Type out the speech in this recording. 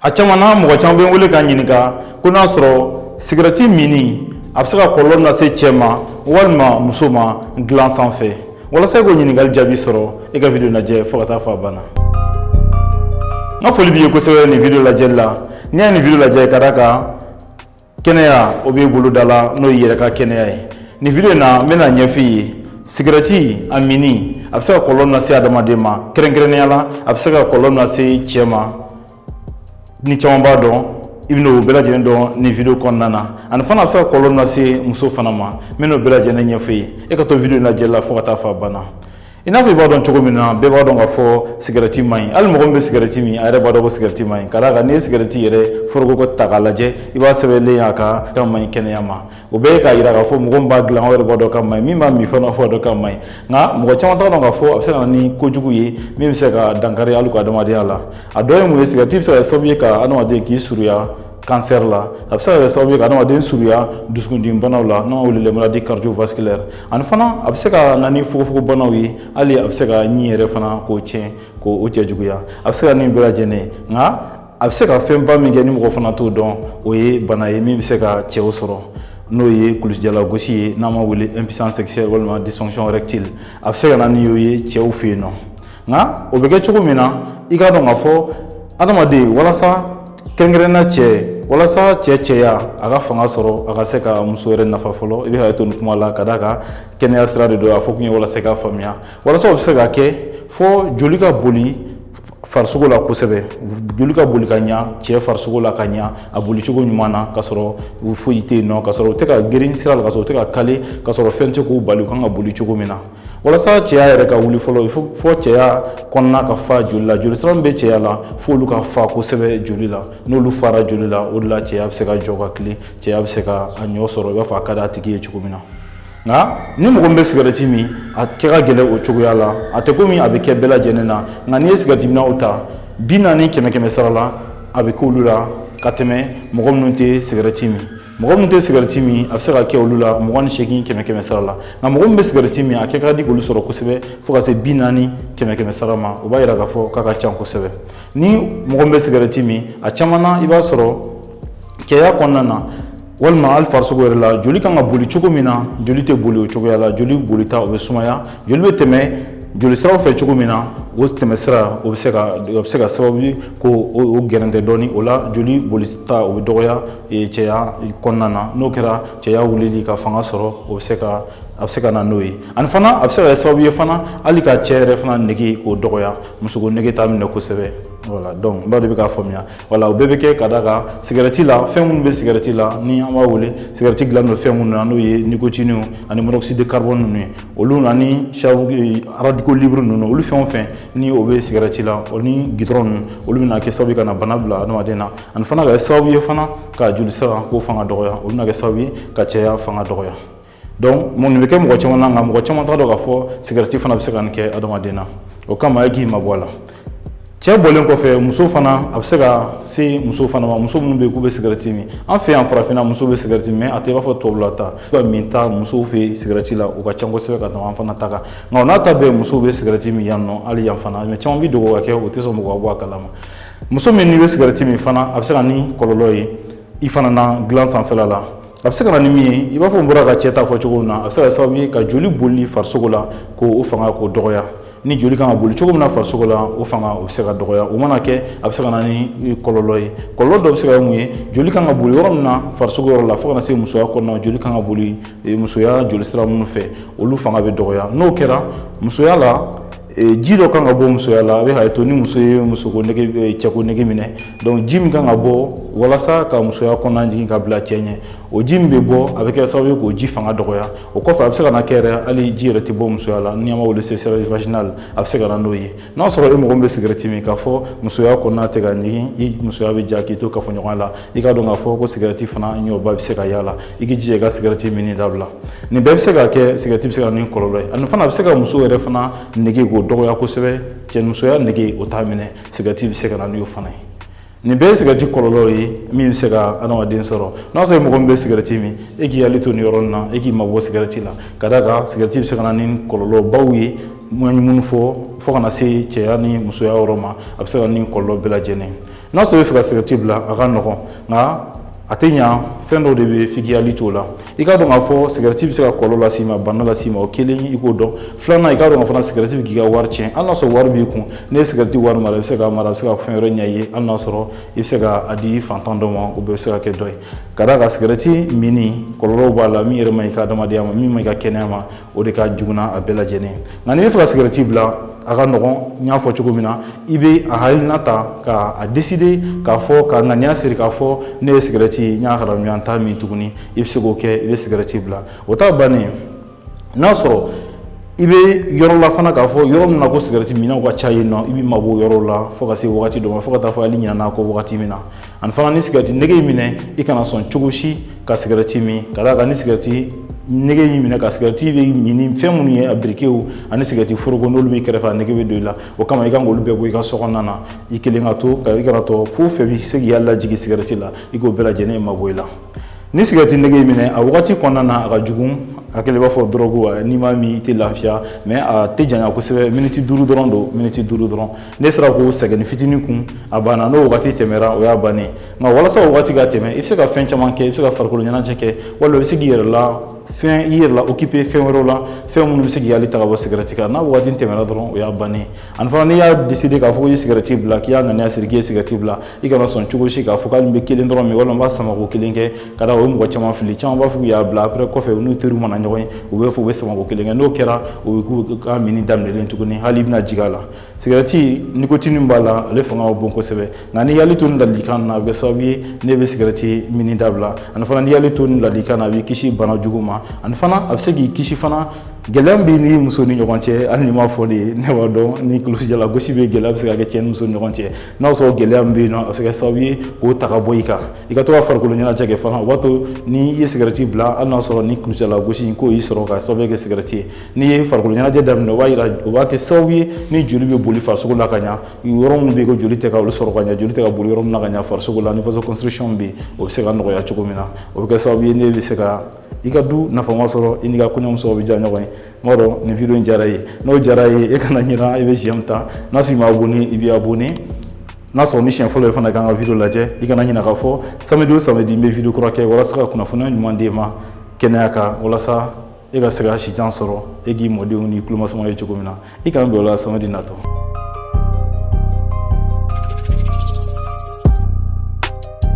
a caman na mɔgɔ caman bɛ n wele ka n ɲininka ko n'a sɔrɔ sigɛrɛti minni a bɛ se ka kɔlɔlɔ lase cɛ ma walima muso ma dilan sanfɛ walasa i k'o ɲininkali jaabi sɔrɔ i ka video in lajɛ fo ka taa fo a banna n ka foli b'i ye kosɛbɛ nin video lajɛli la n'i y'a nin video lajɛ ka d'a kan kɛnɛya o b'i boloda la n'o y'i yɛrɛ ka kɛnɛya ye nin video in na n bɛna ɲɛf'i ye sigɛrɛti a minni a bɛ se ka kɔlɔlɔ min lase adamaden ma kɛrɛnkɛrɛnnenya la a bɛ se ka kɔlɔlɔ min lase cɛ ma ni caman b'a dɔn i bɛna o bɛɛ lajɛlen dɔn nin video kɔnɔna na ani fana a bɛ se ka kɔlɔlɔ min lase muso fana ma n bɛna o bɛɛ lajɛlen ɲɛf'i ye e ka to video in lajɛli la fo ka taa fo a banna i n'a fɔ i b'a dɔn cogo min na bɛɛ b'a dɔn k'a fɔ sigɛrɛti man ɲi hali mɔgɔ min bɛ sigɛrɛti min a yɛrɛ b'a dɔn ko sigɛrɛti man ɲi ka d'a kan n'i ye sigɛrɛti yɛrɛ foroko ta k'a lajɛ i b'a sɛbɛnlen y'a kan k'a man ɲi kɛnɛya ma o bɛɛ ye k'a yira k'a fɔ mɔgɔ min b'a dilan o yɛrɛ b'a dɔn k'a man ɲi min b'a min fana b'a dɔn k'a man ɲi nka mɔgɔ caman t'a dɔn k'a fɔ a bɛ se ka na ni kojugu ye min bɛ se ka dankari hali i ka adamadenya la a dɔ ye mun ye sigɛrɛti bɛ se ka kɛ sababu ye ka adamaden k'i surunya kansɛri la a bɛ se ka kɛ sababu ye ka adamaden surunya dusukundimi banaw la n'an b'a wele maladie cardiovasculaire ani fana a bɛ se ka na ni fogofogobanaw ye hali a bɛ se ka ɲin yɛrɛ fana k'o tiɲɛ k'o cɛjuguya a bɛ se ka nin bɛɛ lajɛlen nka a bɛ se ka fɛnba min kɛ ni mɔgɔ fana t'o dɔn o ye bana ye min bɛ se ka cɛw sɔrɔ n'o ye kulusijalagosi ye n'an b'a wele impuissance sexuelle walima dysfonction érectile a bɛ se ka na ni o ye cɛw fɛ yen nɔ nka o bɛ kɛ cogo min na i k'a dɔn k'a fɔ adamaden walasa kɛrɛnkɛrɛn na cɛ walasa cɛ cɛya a ka fanga sɔrɔ a ka se ka muso yɛrɛ nafa fɔlɔ i bɛ hakɛ to nin kuma la ka d'a kan kɛnɛya sira de don a fɔ kun ye walasa i k'a faamuya walasa o bɛ se ka kɛ fo joli ka boli farisogo la kosɛbɛ joli ka boli ka ɲa cɛ farisogo la ka ɲa a boli cogo ɲuman na ka sɔrɔ foyi tɛ yen nɔ ka sɔrɔ u tɛ ka geren sira la ka sɔrɔ u tɛ ka kale ka sɔrɔ fɛn tɛ k'u bali u kan ka boli cogo min na walasa cɛya yɛrɛ ka wuli fɔlɔ il faut fo cɛya kɔnɔna ka fa joli la joli sira min bɛ cɛya la f'olu ka fa kosɛbɛ joli la n'olu fara joli la o de la cɛya bɛ se ka jɔ ka tilen cɛya bɛ se ka a ɲɛ sɔrɔ i b'a fɔ a ka di a tigi ye cogo min na nka ni mɔgɔ min bɛ sigɛrɛti min a kɛ ka gɛlɛn o cogoya la a tɛ komi a bɛ kɛ bɛɛ lajɛlen na nka n'i ye sigɛrɛti minnaw ta bi naani kɛmɛ kɛmɛ sara la a bɛ k'olu la ka tɛmɛ mɔgɔ minnu tɛ sigɛrɛti min mɔgɔ min tɛ sigɛrɛti min a bɛ se ka kɛ olu la mugan ni seegin kɛmɛ kɛmɛ sara la nka mɔgɔ min bɛ sigɛrɛti min a kɛ ka di k'olu sɔrɔ kosɛbɛ fo ka se bi naani kɛmɛ kɛmɛ sara ma o b'a yira k'a fɔ k'a ka ca kosɛbɛ ni mɔgɔ min bɛ sigɛrɛti min a caman na i b'a sɔrɔ cɛya kɔnɔna na walima hali farisogo yɛrɛ la joli kan ka boli cogo min na joli tɛ boli o cogoya la joli bolita o bɛ sumaya joli bɛ tɛmɛ joli siraw fɛ cogo min na o tɛmɛsira o bɛ se ka o bɛ se ka kɛ sababu ye k'o gɛrɛntɛ dɔɔni o la joli bolita o bɛ dɔgɔya cɛya kɔnɔna na n'o kɛra cɛya wulili ka fanga sɔrɔ o bɛ se ka a bɛ se ka na n'o ye ani fana a bɛ se ka kɛ sababu ye fana hali ka cɛ yɛrɛ fana nege k'o dɔgɔya musoko nege t'a minɛ kosɛbɛ voilà donc n b'a dɔn i bɛ k'a faamuya voilà o bɛɛ bɛ kɛ ka d'a kan sigɛrɛti la fɛn minnu bɛ sigɛrɛti la ni an b'a wele sigɛrɛti dilannen don fɛn minnu na n'o ye nicotine ani monoxyde de carbone ninnu ye olu ani radicaux libres ninnu olu fɛn o fɛn ni o bɛ sigɛrɛti la o ni goudron ninnu olu bɛna kɛ sababu ye ka na bana bila adamaden na ani fana ka kɛ sababu ye fana ka joli sira k'o fanga dɔgɔya olu bɛna kɛ sababu ye ka cɛya fanga dɔgɔya donc mun bɛ kɛ mɔgɔ caman na nka mɔgɔ caman t'a dɔn k'a fɔ sigɛrɛti fana bɛ se ka nin kɛ adamaden na o kama e k'i mabɔ a la cɛ bɔlen kɔfɛ muso fana a bɛ se ka se muso fana ma muso minnu bɛ yen k'u bɛ sigɛrɛti min an fɛ yan farafinna muso bɛ sigɛrɛti min a tɛ i b'a fɔ tubabula ta ka min ta musow fɛ yen sigɛrɛti la u ka ca kosɛbɛ ka tɛmɛ an fana ta kan nka o n'a ta bɛɛ musow bɛ sigɛrɛti min yan nɔ hali yan fana mais caman bɛ dogo k'a kɛ u tɛ sɔn mɔgɔ ka bɔ a kalama muso min n'i bɛ sigɛrɛti min fana a bɛ se ka ni kɔlɔlɔ ye i fana na dilan sanfɛla la a bɛ se ka na ni min ye i b'a fɔ n bɔra ka cɛ ta fɔ cogo min na a bɛ se ka kɛ sababu ye ka joli boli farisogo la k'o o fanga k'o dɔgɔya ni joli kan ka boli cogo min na farisogo la o fanga o bɛ se ka dɔgɔya o mana kɛ a bɛ se ka na ni kɔlɔlɔ ye kɔlɔlɔ dɔ bɛ se ka kɛ mun ye joli kan ka boli yɔrɔ min na farisogo yɔrɔ la fo ka na se musoya kɔnɔna joli kan ka boli musoya joli sira minnu fɛ olu fanga bɛ dɔgɔya n'o kɛra musoya la ji dɔ kan ka bɔ musoya la a bɛ hakɛ to ni muso ye musoko nege cɛko nege minɛ donc ji min kan ka bɔ walasa ka musoya kɔnɔna ɲigin ka bila cɛ ɲɛ o ji min bɛ bɔ a bɛ kɛ sababu ye k'o ji fanga dɔgɔya o kɔfɛ a bɛ se ka na kɛ yɛrɛ hali ji yɛrɛ tɛ bɔ musoya la ni an b'a wele sécheresse vaginale a bɛ se ka na n'o ye n'a sɔrɔ e mɔgɔ min bɛ sigɛrɛti min k'a fɔ musoya kɔnɔna tɛ ka ɲigin i musoya bɛ ja k'i to kafoɲɔgɔnya la i k'a dɔn k'a fɔ ko sigɛrɛti fana nɔba bɛ se ka y'a la i k'i jija i ka sigɛrɛti minni dabila nin bɛɛ bɛ se ka kɛ sigɛrɛti bɛ se ka na ni kɔlɔlɔ ye ani fana a bɛ se ka muso yɛrɛ fana nege k'o dɔgɔya kosɛbɛ cɛnimusoya nege o t'a minɛ sigɛrɛti bɛ se ka na n'o fana ye nin bɛɛ ye sigɛrɛti kɔlɔlɔw ye min bɛ se ka adamaden sɔrɔ n'a sɔrɔ mɔgɔ min bɛ sigɛrɛti min e k'i hakili to nin yɔrɔ nin na e k'i mabɔ sigɛrɛti la ka d'a kan sigɛrɛti bɛ se ka na ni kɔlɔlɔbaw ye n ye minnu fɔ fo ka na se cɛya ni musoya yɔrɔ ma a bɛ se ka na ni kɔlɔlɔ bɛɛ lajɛlen ye n'a sɔrɔ i bɛ fɛ ka sigɛrɛti bila a ka nɔgɔn nka a tɛ ɲa fɛn dɔw de bɛ f'i k'i hakili t'o la i k'a dɔn k'a fɔ sigɛrɛti bɛ se ka kɔlɔlɔ las'i ma bana las'i ma o kelen i k'o dɔn filanan i k'a dɔn fana sigɛrɛti bɛ k'i ka wari tiɲɛ hali n'a sɔrɔ wari b'i kun n'i ye sigɛrɛti wari mara i bɛ se k'a mara a bɛ se ka fɛn wɛrɛ ɲɛ i ye hali n'a sɔrɔ i bɛ se ka a di fantan dɔ ma o bɛɛ bɛ se ka kɛ dɔ ye ka d'a kan sigɛrɛti minni kɔlɔlɔw b'a la min yɛrɛ man ɲi i ka adamadenya ma min man ɲi i ka kɛnɛya ma o de ka jugu n'a bɛɛ lajɛlen nka n'i bɛ fɛ ka sigɛrɛti bila a ka nɔgɔn n y'a fɔ cogo min na i bɛ a hakilina ta k'a décider k'a fɔ ka ŋaniya siri k'a fɔ ne ye sigɛrɛti n y'a haramuya n t'a min tuguni i bɛ se k'o kɛ i bɛ sigɛrɛti bila o t'a bannen n'a sɔrɔ i bɛ yɔrɔ la fana k'a fɔ yɔrɔ min na ko sigɛrɛti minnaw ka ca yen nɔ i b'i mabɔ o yɔrɔ la fo ka se wagati dɔ ma fo ka taa fɔ hali ɲinana a kɔ wagati min na ani fana ni sigɛrɛti nege y'i minɛ i kana sɔn cogo si ka sigɛrɛti min ka d'a kan ni sigɛrɛti nege y'i minɛ ka sigɛrɛti bɛ min ni fɛn minnu ye a birikew ani sigɛrɛti foroko n'olu b'i kɛrɛfɛ a nege bɛ don i la o kama i kan k'olu bɛɛ bɔ i ka so kɔnɔna na i kelen ka to ka i kana to fɛn o fɛn bɛ se k'i hakili jigin sigɛrɛti la i k'o bɛɛ lajɛlen mabɔ i la ni sigɛrɛti nege y'i minɛ a wagati kɔnɔna na a ka jugu a kɛlen b'a fɔ dɔrɔgu n'i m'a min i tɛ lafiya mais a tɛ janya kosɛbɛ miniti duuru dɔrɔn don miniti duuru dɔrɔn n'i sera k'o sɛgɛnni fitinin kun a banna n'o wagati tɛmɛra o y'a bannen nka walasa o wagati ka tɛmɛ i bɛ se ka fɛn caman kɛ i bɛ se ka farikolo ɲɛnajɛ kɛ walima i bɛ se k'i yɛrɛ la fɛn i yɛrɛ la occuper fɛn wɛrɛw la fɛn minnu bɛ se k'i hakili ta ka bɔ sigɛrɛti kan n'a wagati tɛmɛna dɔrɔn o y'a bannen ani fana n'i y'a décider k'a fɔ ko i ye sigɛrɛti bila k'i y'a ŋaniya siri k'i ye sigɛrɛti bila i kana sɔn cogo si k'a fɔ k'ale bɛ kelen dɔrɔn min walima n b'a sama ko kelen kɛ ka da o ye mɔgɔ caman fili caman b'a fɔ k'u y'a bila après kɔfɛ u n'u teriw mana ɲɔgɔn ye u b'a fɔ u b'a sama ko kelen kɛ n'o kɛra o ye k'u ka minni daminɛlen tuguni hakili bɛna jigin a la sigɛrɛti nikotini b'a la ale fanga ka bon kosɛbɛ nka n'i y'i hakili to nin ladilikan na a bɛ kɛ sababu ye n'i bɛ sigɛrɛti min dabila ani fana n'i y'i hakili to nin ladilikan na a b'i kisi bana jugu ma ani fana a bɛ se k'i kisi fana gɛlɛya b'i n'i muso ni ɲɔgɔn cɛ hali ni m'a fɔ de ye ne b'a dɔn ni kulusijala gosi bɛ gɛlɛya bɛ se ka kɛ cɛ ni muso ni ɲɔgɔn cɛ n'a sɔrɔ gɛlɛya min bɛ yen nɔ a bɛ se ka kɛ sababu ye k'o ta ka bɔ i kan i ka to ka farikolo ɲɛnajɛ kɛ fana o b'a to ni i ye sigɛrɛti bila hali n'a sɔrɔ ni kulusijala gosi in k'o y'i sɔrɔ ka sababu kɛ sigɛrɛti ye n'i ye farikolo ɲɛnajɛ daminɛ o b'a yira o b'a kɛ sababu ye ni joli bɛ boli farisogo la ka ɲa yɔrɔ minnu bɛ yen ko joli tɛ ka olu sɔrɔ ka ɲa joli tɛ ka boli yɔrɔ min na ka ɲa farisogo la ni vasoconstriction bɛ yen o bɛ se ka nɔgɔya cogo min na o bɛ kɛ sababu ye n'i bɛ se ka i ka du nafama sɔrɔ i n'i ka kɔɲɔmuso bɛ diya ɲɔgɔn ye n b'a dɔn nin video in diyara i ye n'o diyara i ye e kana ɲinɛ i bɛ j'aime ta n'a sɔrɔ i ma abonné i bɛ abonné n'a sɔrɔ ni siɲɛ fɔlɔ ye fana k'an ka video lajɛ i kana ɲinɛ k'a fɔ samedi o samedi n bɛ video kura kɛ walasa ka kunnafoniya ɲuman d'e ma kɛnɛya kan walasa e ka se ka sijan sɔrɔ e k'i mɔdenw ni tulomasamaw ye cogo min na i kana bila o la samedi natɔ